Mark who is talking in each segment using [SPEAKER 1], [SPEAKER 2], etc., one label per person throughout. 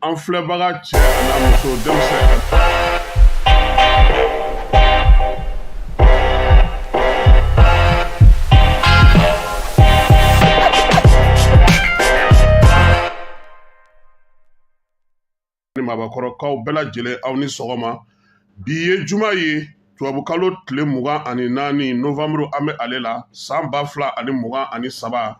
[SPEAKER 1] an filɛbaga cɛ an'a muso denmisɛn ni maabakɔrɔkaw bɛɛ lajɛlen aw ni sɔgɔma bi ye juma ye tubabukalo tile mugan ani naani novanburu an bɛ ale la san ba fila ani mugan ani saba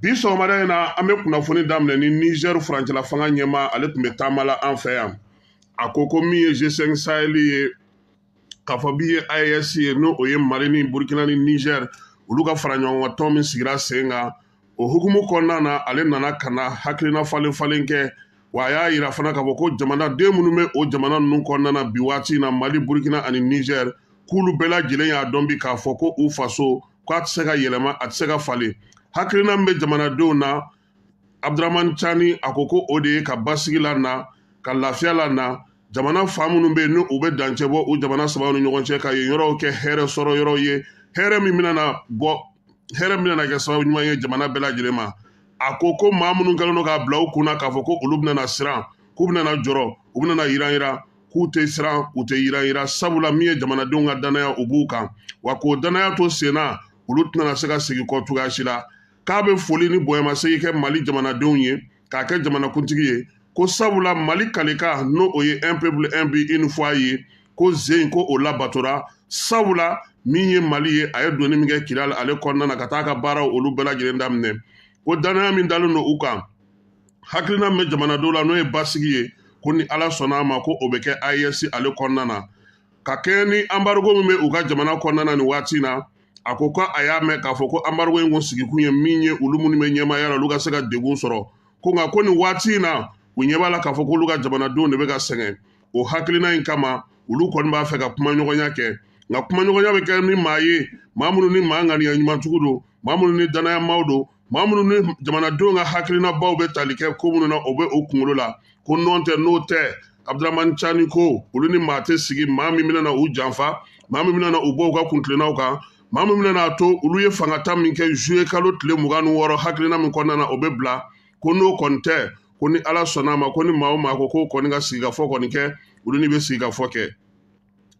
[SPEAKER 1] bi sɔgɔmada in na an bɛ kunnafoni daminɛ ni nizɛri furancɛla fanga ɲɛmaa ale tun bɛ taama la an fɛ yan a ko ko min ye g5 saheli ye k'a fɔ min ye AES ye n'o o ye mali ni burkina ni nizɛri olu ka fara ɲɔgɔn kan tɔn min sigira sen kan o hukumu kɔnɔna na ale nana ka na hakilina falen falen kɛ wa a y'a yira fana k'a fɔ ko jamanaden minnu bɛ o jamana ninnu kɔnɔna na bi waati in na mali burkina ani nizɛri k'olu bɛɛ lajɛlen y'a dɔn bi k'a fɔ ko u faso ko a tɛ se ka yɛlɛma a tɛ se ka falen hakilina min bɛ jamanadenw na abudurahmani cani a ko ko o de ye ka basigi la na ka lafiya la na jamana fa minnu bɛ yen ni u bɛ dancɛ bɔ u jamana sabaw ni ɲɔgɔn cɛ ka yen yɔrɔw kɛ hɛrɛ sɔrɔ yɔrɔw ye hɛrɛ min bɛna bɔ hɛrɛ min bɛna kɛ sababu ɲuman ye jamana bɛɛ lajɛlen ma a ko ko maa minnu kɛlen don k'a bila u kunna k'a fɔ ko olu bɛna siran k'u bɛna jɔrɔ u bɛna yiran yiran k'u tɛ siran u tɛ yiran yiran sabula min ye jamanadenw ka dannaya u b'u kan wa k'o dannaya to senna olu tɛna se ka segin kɔ cogoya si la k'a bɛ foli ni bonyamasegin kɛ mali jamanadenw ye k'a kɛ jamanakuntigi ye ko sabula mali kalikan n'o o ye un peuple un but une foi ye ko zen ko o labatora sabula min ye mali ye a ye donni min kɛ kidali ale kɔnɔna na ka taa ka baaraw olu bɛɛ lajɛlen daminɛ ko dannaya min dalen don u kan hakilina min bɛ jamanadenw la n'o ye basigi ye ko ni ala sɔnna a ma ko o bɛ kɛ AES ale kɔnɔna na ka kɛɲɛ ni anbarigo min bɛ u ka jamana kɔnɔna na nin waati in na a ko ko a y'a mɛn k'a fɔ ko anbarigo in kun sigikun ye min ye olu minnu bɛ ɲɛmaaya la olu ka se ka degun sɔrɔ ko nka ko nin waati in na u ɲɛ b'a la k'a fɔ k'olu ka jamanadenw de bɛ ka sɛgɛn o hakilina in kama olu kɔni b'a fɛ ka kumaɲɔgɔnya kɛ nka kumaɲɔgɔnya bɛ kɛ ni maa ye maa minnu ni maa ŋaniya ɲuman tigi don maa minnu ni dannaya maaw don maa minnu ni jamanadenw ka hakilinabaw bɛ tali kɛ ko minnu na o bɛ o kunkolo la ko nɔntɛ n'o tɛ abudurahmani cani ko olu ni maa tɛ sigi maa min bɛna u janfa maa min bɛna u bɔ u ka kuntilennaw kan maa min bɛna a to olu ye fangata min kɛ zuye kalo tile mugan ni wɔɔrɔ hakilina min kɔnɔna na o bɛ bila ko n'o kɔni tɛ ko ni ala sɔnna a ma ko ni maa o maa ko k'o kɔni ka sigikafɔ kɔni kɛ olu ni bɛ sigikafɔ kɛ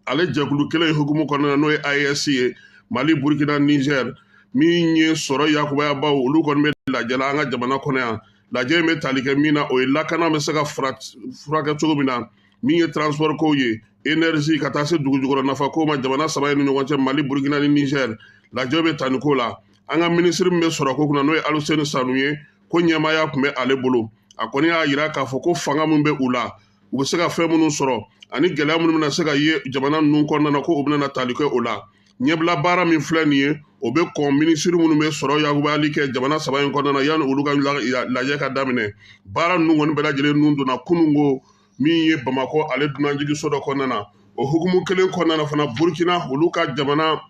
[SPEAKER 1] ale jɛkulu kelen hukumu kɔnɔna n'o ye AES ye Mali Burkina Niger min ye sɔrɔ yakubayabaw olu kɔni bɛ lajɛ la an ka jamana kɔnɔ yan lajɛ in bɛ tali kɛ min na o ye lakana bɛ se ka furakɛ cogo min na min ye transport kow ye energie ka taa se dugujukɔrɔ nafa kow ma jamana saba in ni ɲɔgɔn cɛ Mali Burkina ni Niger lajɛ bɛ tali k'o la an ka minisiri min bɛ sɔrɔ ko kunna n'o ye Aluseni Sanu ye ko ɲɛmaaya tun bɛ ale bolo a kɔni y'a jira k'a fɔ ko fanga min bɛ u la u bɛ se ka fɛn minnu sɔrɔ ani gɛlɛya minnu bɛna se ka ye jamana ninnu kɔnɔna na ko u bɛna tali kɛ o la ɲɛbila baara min filɛ nin ye o bɛ kɔn minisiri minnu bɛ sɔrɔ yakubali kɛ jamana saba in kɔnɔna na yanni olu ka lajɛ ka daminɛ baara ninnu kɔni bɛɛ lajɛlen nun donna kunun ko min ye bamakɔ ale dunanjigiso dɔ kɔnɔna na o hukumu kelen kɔnɔna na fana burukina olu ka jamana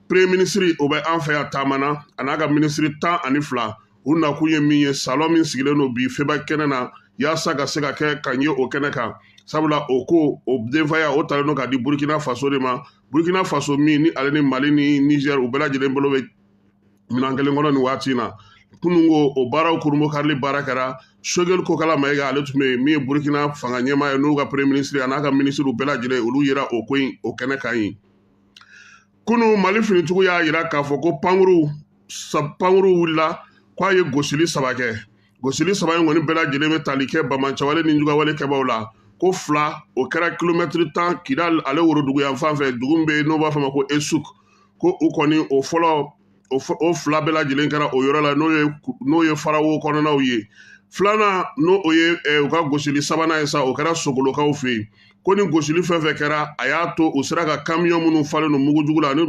[SPEAKER 1] premier minisiri o bɛ an fɛ yan taama na a n'a ka minisiri tan ani fila u nakun ye min ye salɔn min sigilen don bi febak kɛnɛ na yaasa ka se ka kɛ ka ɲɛ o kɛnɛ kan sabula o ko o denfaya o talen don ka di burkina faso de ma burkina faso min ni ale ni mali ni niger u bɛɛ lajɛlen bolo bɛ minan kelen kɔnɔ nin waati in na kunun ko o baaraw kurunbonkarili baara kɛra sogɛli kokala mayiga ale tun bɛ yen min ye burkina fanga ɲɛmaa ye n'u ka premier minisiri a n'a ka minisiriw bɛɛ lajɛlen olu yera o ko in o kɛnɛ kan yen kunun mali finitigiw y'a yira k'a fɔ ko pankurun wulila k'a ye gosili saba kɛ gosili saba in kɔni bɛɛ lajɛlen bɛ tali kɛ bamanciwale nijuguyawale kɛbaaw la ko fila o kɛra kilomɛtiri tan kidali ale worodugu yan fan fɛ dugu min bɛ yen n'o b'a fɔ ma ko esuk ko u kɔni o fɔlɔ o fila bɛɛ lajɛlen kɛra o yɔrɔ la n'o ye farawo kɔnɔnaw ye filanan n'o o ye eh, u ka gosili sabanan ye sa o kɛra sogolokaw fɛ yen ko nin gosili fɛn fɛn kɛra a y'a to u sera ka kamiyɔn minnu falen don mugujugu la ani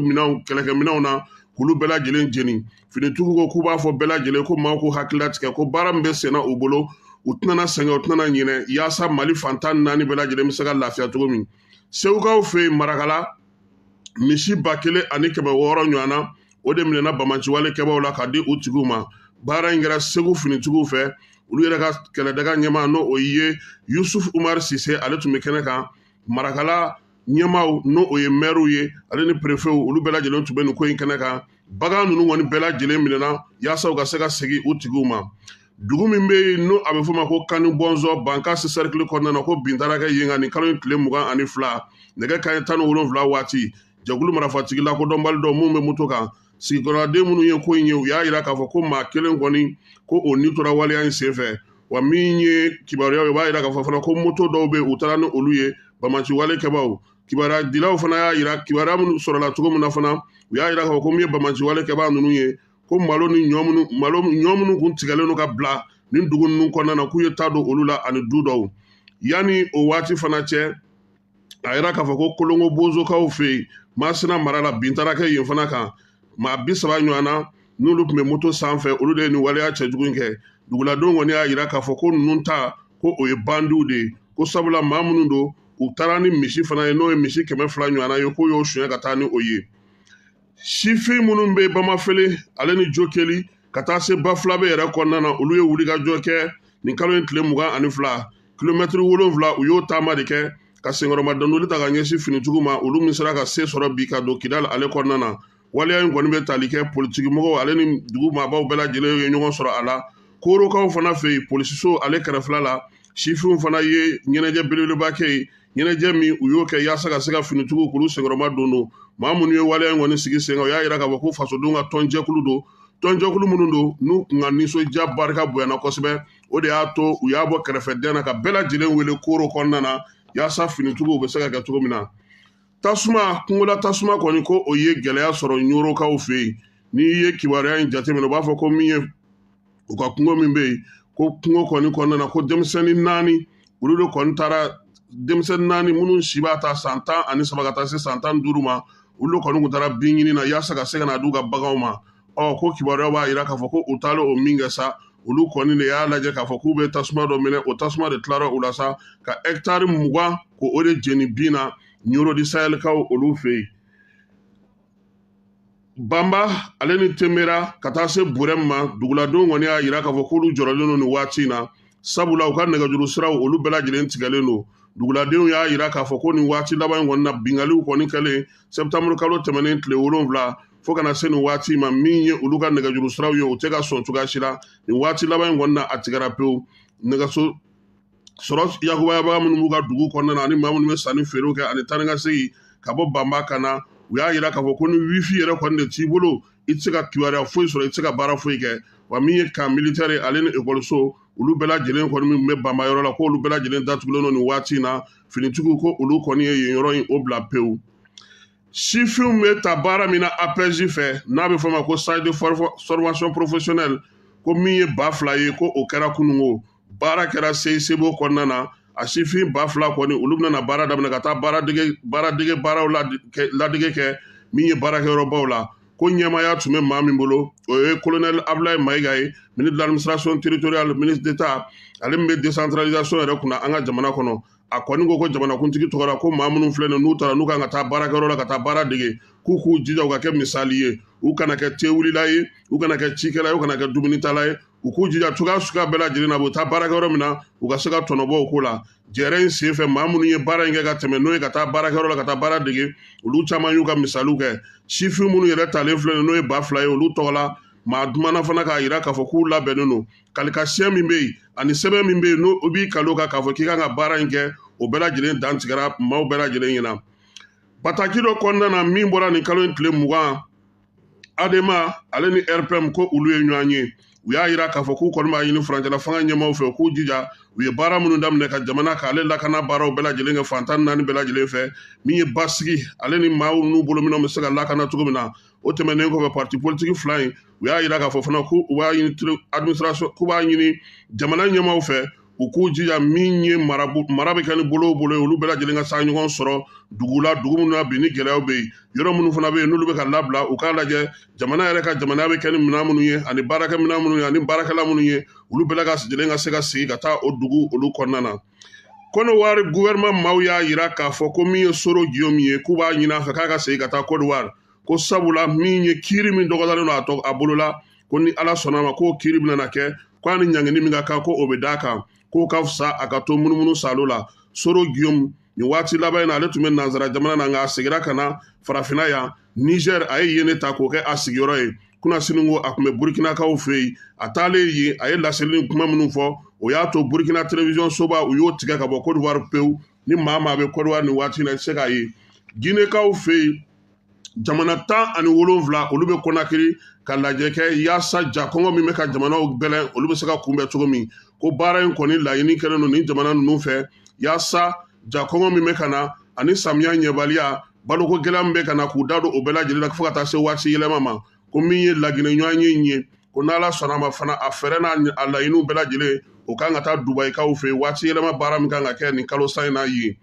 [SPEAKER 1] kɛlɛkɛminɛnw na k'olu bɛɛ lajɛlen jeni finitigiw ko k'u b'a fɔ bɛɛ lajɛlen ko maaw k'u hakili latigɛ ko baara min bɛ senna u bolo u tɛna sɛgɛn u tɛna ɲinɛ yaasa mali fan tan ni naani bɛɛ lajɛlen bɛ se ka lafiya cogo min segukaw fɛ yen marakala misi ba kelen ani kɛmɛ wɔɔrɔ ɲɔgɔnna o de minɛna bamanciwale kɛbaaw la ka di u tigiw ma baara in kɛra segu finitigiw fɛ olu yɛrɛ ka kɛlɛdaga ɲɛmaa n'o o ye yusuf umar sise ale tun bɛ kɛnɛ kan marakala ɲɛmaaw n'o o ye mɛriw ye ale ni perefew olu bɛɛ lajɛlen tun bɛ nin ko in kɛnɛ kan bagan ninnu kɔni bɛɛ lajɛlen minɛna yaasa u ka se ka segin u tigiw ma dugu min bɛ yen n'a bɛ f'o ma ko kani bɔnzɔn bankasi sɛrikili kɔnɔna na ko bin taara kɛ yen kan nin kalo in tile mugan ani fila nɛgɛ kanɲɛ tan ni wolonwula waati jɛkulu marafatigi lakodɔnbali dɔw minnu bɛ moto kan sigikɔrɔden minnu ye ko in ye u y'a jira k'a fɔ ko maa kelen kɔni ko o ni tora waleya in senfɛ wa min ye kibaruyaw ye u b'a jira k'a fɔ fana ko moto dɔw bɛ u taara ni olu ye bamanciwale kɛbaaw kibaruyadilaw fana y'a jira kibaruya minnu sɔrɔla cogo min na fana u y'a jira k'a fɔ ko min ye bamanciwale kɛbaa ninnu ye ko malo ni ɲɔ minnu kun tigɛlen don ka bila nin dugu ninnu kɔnɔna na k'u ye ta don olu la ani du dɔw yanni o waati fana cɛ a yira k'a fɔ ko kolongo bozokaw fɛ yen masina mara la bin taara kɛ yen fana kan maa bi saba ɲɔgɔn na n'olu tun bɛ moto sanfɛ olu de ye nin waleya cɛjugu in kɛ duguladenw kɔni y'a jira k'a fɔ ko ninnu ta ko o ye bandiw de ye ko sabula maa minnu don u taara ni misi fana ye n'o ye misi kɛmɛ fila ɲɔgɔnna ye k'u y'o suɲɛ ka taa ni o ye sifin minnu bɛ bamafele ale ni jokeli ka taa se bafulabe yɛrɛ kɔnɔna na olu ye wulikajɔ kɛ nin kalo in tile mugan ani fila kilomɛtiri wolonfila u y'o taama de kɛ ka senkɔrɔma dondoli ta ka ɲɛsin finitigiw ma olu min sera ka se sɔrɔ bi ka don kidali ale kɔnɔna na waleya in kɔni bɛ tali kɛ politigimɔgɔw ale ni dugu maabaw bɛɛ lajɛlen ye ɲɔgɔn sɔrɔ a la korokaw fana fɛ yen polisiso ale kɛrɛfɛla la sifinw fana ye ɲɛnajɛ belebeleba kɛ yen ɲɛnajɛ min u y'o kɛ yaasa ka se ka finitigiw k'olu senkɔrɔma dondon maa minnu ye waleya in kɔni sigi sen kan u y'a yira k'a fɔ ko fasodenw ka tɔnjɛkulu don tɔnjɛkulu minnu don n'u kun ka nisɔndiya barika bonyana kosɛbɛ o de y'a to u y'a bɔ kɛrɛfɛ dɛn na ka bɛɛ lajɛlen wele koro kɔnɔna na yaasa finitigiw bɛ se ka kɛ cogo min na tasuma kungola tasuma kɔni ko o ye gɛlɛya sɔrɔ ɲorokaw fɛ yen n'i ye kibaruya in jateminɛ u b'a fɔ ko min ye u ka kungo min bɛ yen ko kungo kɔni kɔnɔna na ko denmisɛnnin naani olu de kɔni taara denmisɛnnin naani minnu si b'a ta san tan ani saba ka taa se san tan duuru ma olu kɔni kun taara bin ɲini na yaasa ka se ka na d'u ka baganw ma ɔ ko kibaruya b'a jira k'a fɔ ko u taalen o min kɛ sa olu kɔni de y'a lajɛ k'a fɔ k'u bɛ tasuma dɔ minɛ o tasuma de tilara u la sa ka ɛkitari mugan ko o de jeni bin na ɲoro di sahɛlikaw olu fɛ yen banba ale ni temera ka taa se burɛmu ma duguladenw kɔni y'a jira k'a fɔ k'olu jɔrɔlen don nin waati in na sabula u ka nɛgɛjuru siraw olu bɛɛ lajɛlen tigɛlen don duguladenw y'a jira k'a fɔ ko nin waati laban in kɔni na binkaliw kɔni kɛlen sɛtanburu kalo tɛmɛnen tile wolonfila fo ka na se nin waati ma min ye olu ka nɛgɛjuru siraw ye u tɛ ka sɔn cogoya si la nin waati laban in kɔni na a tigɛra pewu nɛgɛso sɔrɔ yakubayabaga minnu b'u ka dugu kɔnɔna na ani maa minnu bɛ sanni feerew kɛ ani taa ni ka segin ka bɔ banba ka na u y'a yira k'a fɔ ko ni wifi yɛrɛ kɔni de t'i bolo i tɛ se ka kibaruya foyi sɔrɔ i tɛ se ka baara foyi kɛ wa min ye kan militɛri ye ale ni ekɔliso olu bɛɛ lajɛlen kɔni min bɛ banba yɔrɔ la ko olu bɛɛ lajɛlen datugulen don nin waati in na finitigiw ko olu kɔni ye yen yɔrɔ in o bila pewu sifinw bɛ taa baara min na apɛzi fɛ n'a bɛ fɔ o ma ko stage de formation professionnelle ko min ye ba fila ye ko o kɛra kununko baara kɛra cicb kɔnɔna na a sifin ba fila kɔni olu bɛna baara daminɛ ka taa baaradege baaraw ladege kɛ min ye baarakɛyɔrɔbaw la ko ɲɛmaaya tun bɛ maa min bolo o ye kolonɛli abulayi mayiga ye ministre de l'administration territoriale ministre d'état ale min bɛ décentralisation yɛrɛ kunna an ka jamana kɔnɔ a kɔni ko ko jamanakuntigi tɔgɔ la ko maa minnu filɛ nin n'u tara n'u kan ka taa baarakɛyɔrɔ la ka taa baara dege k'u k'u jija u ka kɛ misali ye u kana kɛ tewulila ye u kana kɛ cikɛla ye u kana kɛ dumunitala ye u k'u jija cogoya suguya bɛɛ lajɛlen na u bɛ taa baarakɛyɔrɔ min na u ka se ka tɔnɔbɔ o ko la jɛrɛ in sen fɛ maa minnu ye baara in kɛ ka tɛmɛ n'o ye ka taa baarakɛyɔrɔ la ka taa baara dege olu caman y'u ka misaliw kɛ sifin minnu yɛrɛ talen filɛ nin n'o ye ba fila ye olu tɔgɔ la maa dumana fana k'a yira k'a fɔ k'u labɛnnen don kalikasiyɛ min bɛ yen ani sɛbɛn min bɛ yen n'o b'i kalo kan k'a fɔ k'i kan ka baara in kɛ o bɛɛ lajɛlen dantigɛra maaw bɛɛ lajɛlen ɲɛna bataki dɔ kɔnɔna na min bɔra nin kalo in tile mugan adema ale ni rpm ko olu ye ɲɔgɔn ye u y'a yira k'a fɔ k'u kɔni b'a ɲini furancɛla fanga ɲɛmaaw fɛ u k'u jija u ye baara minnu daminɛ ka jamana k'ale lakana baaraw bɛɛ lajɛlen kɛ fantan naani bɛɛ lajɛlen fɛ min ye basigi ale ni maaw n'u bolominɛw bɛ se ka lakana cogo min na o tɛmɛnen kɔfɛ parti politiki fila in u y'a yira k'a fɔ fana k'u b'a ɲini administration k'u b'a ɲini jamana ɲɛmaaw fɛ u k'u jija min ye mara bɛ kɛ ni bolo bolo ye olu bɛɛ lajɛlen ka se ka ɲɔgɔn sɔrɔ dugu la dugu minnu na bi ni gɛlɛyaw bɛ yen yɔrɔ minnu fana bɛ yen n'olu bɛ ka labila u k'a lajɛ jamana yɛrɛ ka jamanaya bɛ kɛ ni minɛn minnu ye ani baarakɛ minɛn minnu ye ani baarakɛla minnu ye olu bɛɛ lajɛlen ka se ka segin ka taa o dugu olu kɔnɔna na kodiwari gouvernement maaw y'a yira k'a fɔ ko min ye soro guillaume ye k'u b'a ɲini a fɛ k'a ka segin ka taa kodiwari ko sabula min ye kiiri min dɔgɔdalen don a bolo la ko ni ala sɔnna ma k'o kiiri bɛna kɛ ko a ni ɲangini min ka kan ko o bɛ d'a kan k'o ka fisa a ka to munumunu saalo la soro guillaume nin waati laban in na ale tun bɛ nansara jamana na nka a segira ka na farafinna yan niger a ye yen ne ta k'o kɛ a sigiyɔrɔ ye kunasini ko a tun bɛ burukinakaw fɛ yen a taalen yen a ye laseli ni kuma minnu fɔ o y'a to burukina telewisiyɔn soba u y'o tigɛ ka bɔ kodiwari pewu ni maa maa bɛ kodiwari nin waati na i tɛ se k'a ye ginekaw fɛ yen jamana tan ani wolonwula olu bɛ kɔnakiri ka lajɛ kɛ yaasa ja kɔngɔ min bɛ ka jamanaw gɛlɛn olu bɛ se ka kunbɛn cogo min ko baara in kɔni laɲini kɛlen don nin jamana ninnu fɛ yaasa ja kɔngɔ min bɛ ka na ani samiya ɲɛbaliya baloko gɛlɛya min bɛ ka na k'u da don o bɛɛ lajɛlen na fo ka taa se waati yɛlɛma ma ko min ye laginɛ ɲɔgɔnye in ye ko n'ala sɔnna ma fana a fɛɛrɛ n'a a laɲiniw bɛɛ lajɛlen o kan ka taa dubayikaw fɛ yen waati yɛlɛma baara min kan ka kɛ nin kalo san in na yen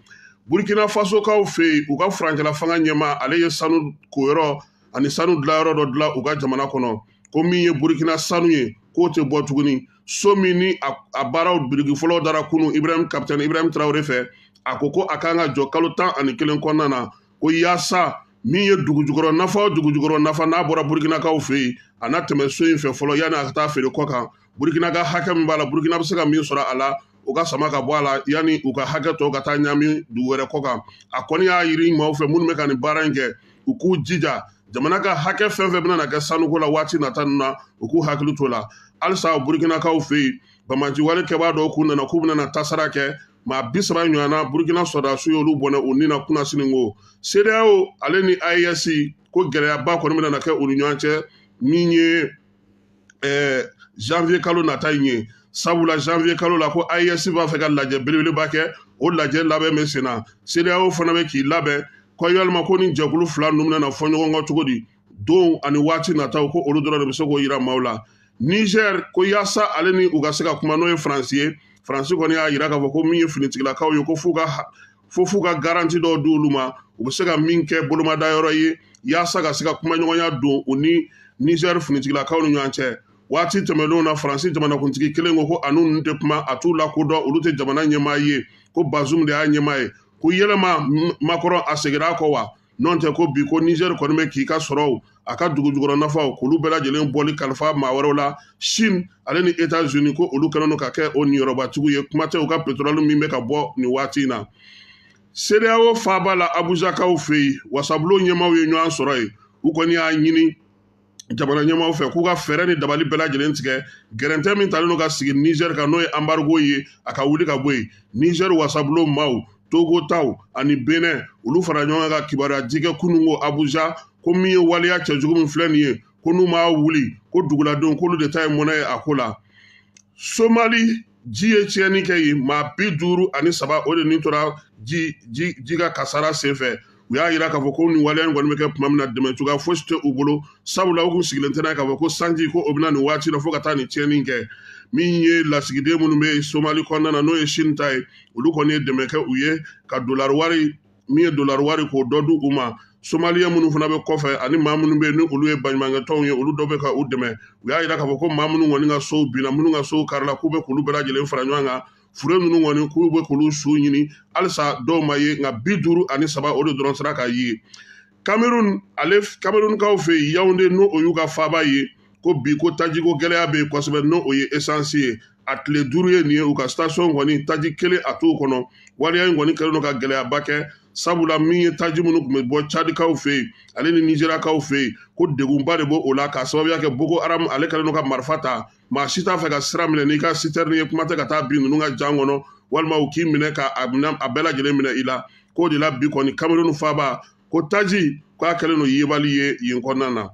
[SPEAKER 1] burkina fasokaw fɛ yen u ka furancɛla fanga ɲɛmaa ale ye sanu koyɔrɔ ani sanu dilayɔrɔ dɔ dilan u ka jamana kɔnɔ ko min ye burkina sanu ye k'o tɛ bɔ tuguni so min ni a baaraw biriki fɔlɔ dara kunun ibrahim kapitɛni ibrahim traoré fɛ a ko ko a kan ka jɔ kalo tan ani kelen kɔnɔna na ko yaasa min ye dugujukɔrɔ nafa o dugujukɔrɔ nafa n'a bɔra burukinakaw fɛ yen a na tɛmɛ so in fɛ fɔlɔ yanni a ka taa feere kɔ kan burukina ka hakɛ min b'a la burukina bɛ se ka min sɔrɔ a la u k'a sama ka bɔ a la yanni u ka hakɛ tɔ ka taa ɲami dugu wɛrɛ kɔ kan a kɔni y'a ɲini maaw fɛ minnu bɛ ka nin baara in kɛ u k'u jija jamana ka hakɛ fɛn fɛn bɛna na kɛ sanuko la waati nata ninnu na u k'u hakili to a la halisa burukinakaw fɛ yen banbaanci wale kɛbaa dɔw k'u nana k'u bɛna na kasara kɛ maa bi saba ɲɔgɔnna burukina sɔrɔdasiw y'olu bɔnɛ u ni na kunasini ko sedeyawo ale ni aes ko gɛlɛyaba kɔni bɛna na kɛ u ni ɲɔgɔn cɛ min ye eh, janvier kalo nata in ye sabula janvier kalo la ko aes b'a fɛ ka lajɛ belebeleba kɛ o lajɛ labɛn bɛ sen na sedeyawo fana bɛ k'i labɛn ko yalima ko nin jɛkulu fila ninnu bɛna na fɔ ɲɔgɔn kɔ cogo di donw ani waati nataw ko olu dɔrɔn de bɛ se k'o yira maaw la niger ko yaasa ale ni u ka se ka kuma n'o ye faransi ye faransi kɔni y'a yira k'a fɔ ko min ye finitigilakaw ye ko fo f'u ka garanti dɔw di olu ma u bɛ se ka min kɛ bolomadayɔrɔ ye yaasa ka se ka kumaɲɔgɔnya don u ni niger finitigilakaw ni ɲɔgɔn cɛ waati tɛmɛnlenw na faransi jamanakuntigi kelen ko ko a ni ninnu tɛ kuma a t'u lakodɔn olu tɛ jamana ɲɛmaa ye ko bazum de y'a ɲɛmaa ye ko yalima makɔrɔn a segira a kɔ wa nɔntɛ ko bi ko nizɛri kɔni bɛ k'i ka sɔrɔw a ka dugujukɔrɔ nafaw k'olu bɛɛ lajɛlen bɔli kalifa maa wɛrɛw la sini ale ni etazini ko olu kɛlen don ka kɛ o niyɔrɔbatigiw ye kuma tɛ u ka petɔrɔli min bɛ ka bɔ nin waati in na sedeyawo faaba la abujakaw fɛ yen wasabulon ɲɛmaaw ye ɲɔgɔn sɔrɔ yen u kɔni y'a ɲini jamana ɲɛmaaw fɛ k'u ka fɛɛrɛ ni dabali bɛɛ lajɛlen tigɛ gɛrɛntɛ min talen don ka sigi nizɛri kan n'o ye anbarigo ye a ka wuli ka bɔ yen nizɛri wasabulon maaw togo taw ani benɛ olu fara ɲɔgɔn kan ka kibaruya di kɛ kunun ko abuja ko min ye waleya cɛjugu min filɛ nin ye ko n'u m'a wuli ko duguladenw k'olu de ta ye mɔnɛ ye a ko la somali ji ye tiɲɛni kɛ yen maa bi duuru ani saba o de ni tora ji ji ka kasara senfɛ u y'a yira k'a fɔ ko nin waleya in kɔni bɛ kɛ tuma min na dɛmɛ cogoya fosi tɛ u bolo sabula u kun sigilen tɛ n'a ye k'a fɔ ko sanji ko o bɛ na nin waati la fo ka taa nin tiɲɛni kɛ min ye lasigiden minnu bɛ somali kɔnɔna na n'o ye sini ta ye olu kɔni ye dɛmɛ kɛ u ye ka dolari wari min ye dolari wari k'o dɔ di u ma somaliyɛn minnu fana bɛ kɔfɛ ani maa minnu bɛ yen ni olu ye baɲumankɛtɔnw ye olu dɔw bɛ ka u dɛmɛ u y'a yira k'a fɔ ko maa minnu kɔni ka sow binna minnu ka sow karila k'u bɛ k'olu bɛɛ lajɛlen fara ɲɔgɔn kan fure ninnu kɔni k'u bɛ k'olu su ɲini halisa dɔw ma ye nka bi duuru ani saba o de dɔrɔn sera ka ye kamerun ale kamerunkaw fɛ yen yawunde n'o y'u ka faaba ye ko bi ko tajiko gɛlɛya bɛ yen kosɛbɛ n'o ye esansi ye a tile duuru ye nin ye u ka station kɔni taji kelen a t'o kɔnɔ waleya in kɔni kɛlen don ka gɛlɛyaba kɛ sabula min ye taji minnu tun bɛ bɔ cadikaw fɛ yen ale ni nizeriyakaw fɛ yen ko degunba de b'o la k'a sababuya kɛ boko haram ale kɛlen don ka marifa ta maa si t'a fɛ ka sira minɛ n'i ka sitɛrini ye kuma tɛ ka taa bin ninnu ka jan kɔnɔ walima u k'i minɛ ka a bɛɛ lajɛlen minɛ i la k'o de la bi kɔni kameruni faaba ko taji k'a kɛlen don yebali ye yen kɔnɔna na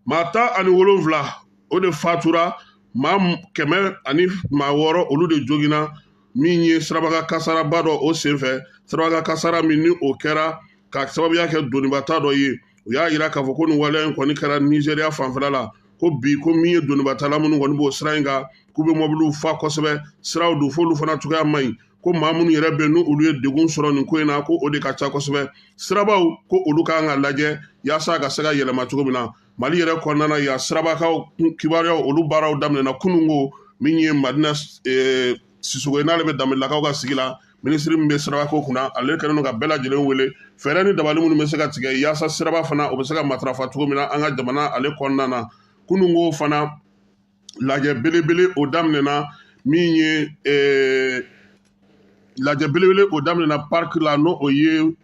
[SPEAKER 1] maa tan ani wolonfila o de fatura maa kɛmɛ ani maa wɔɔrɔ olu de joginna min ye sirabakan kasaraba dɔ o senfɛ sirabakan kasara min ni o kɛra ka sababuya kɛ donibata dɔ ye u y'a yira k'a fɔ ko nin waleya in kɔni kɛra nizeriya fanfɛla la ko bi ko min ye donibatala minnu kɔni b'o sira in kan k'u bɛ mɔbiliw fa kosɛbɛ siraw dun f'olu fana cogoya man ɲi ko maa minnu yɛrɛ bɛ n'olu ye degun sɔrɔ nin ko in na ko o de ka ca kosɛbɛ sirabaw ko olu ka kan ka lajɛ yaasa a ka se ka yɛlɛma cogo min na mali yɛrɛ kɔnɔna na yan sirabakaw kibaruyaw olu baaraw daminɛna kununko min ye madina eh, sisogo ye n'ale bɛ danbɛlɛlakaw ka sigi la minisiri min bɛ sirabako kunna ale kɛlen don ka bɛɛ lajɛlen wele fɛɛrɛ ni dabali minnu bɛ se ka tigɛ yaasa siraba fana o bɛ se ka matarafa cogo min na an ka jamana ale kɔnɔna na kununko fana lajɛ belebele o daminɛna min ye eh, lajɛ belebele o daminɛna pariki la n'o o ye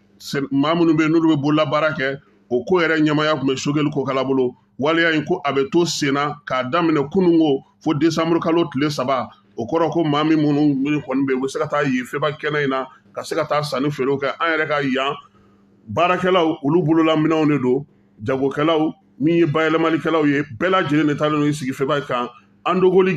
[SPEAKER 1] maa minnu bɛ yen n'olu bɛ bololabaara kɛ o ko yɛrɛ ɲɛmaya tun bɛ sogɛli kokala bolo waleya in ko a bɛ to sen na k'a daminɛ kununko fo desanburu kalo tile saba o kɔrɔ ko maa min minnu minnu kɔni bɛ yen u bɛ se ka taa yen feba kɛnɛ in na ka se ka taa sanni feerew kɛ an yɛrɛ ka yan baarakɛlaw olu bololaminɛw de don jagokɛlaw min ye bayɛlɛmalikɛlaw ye bɛɛ lajɛlen de taalen don i sigi feba kan andogoli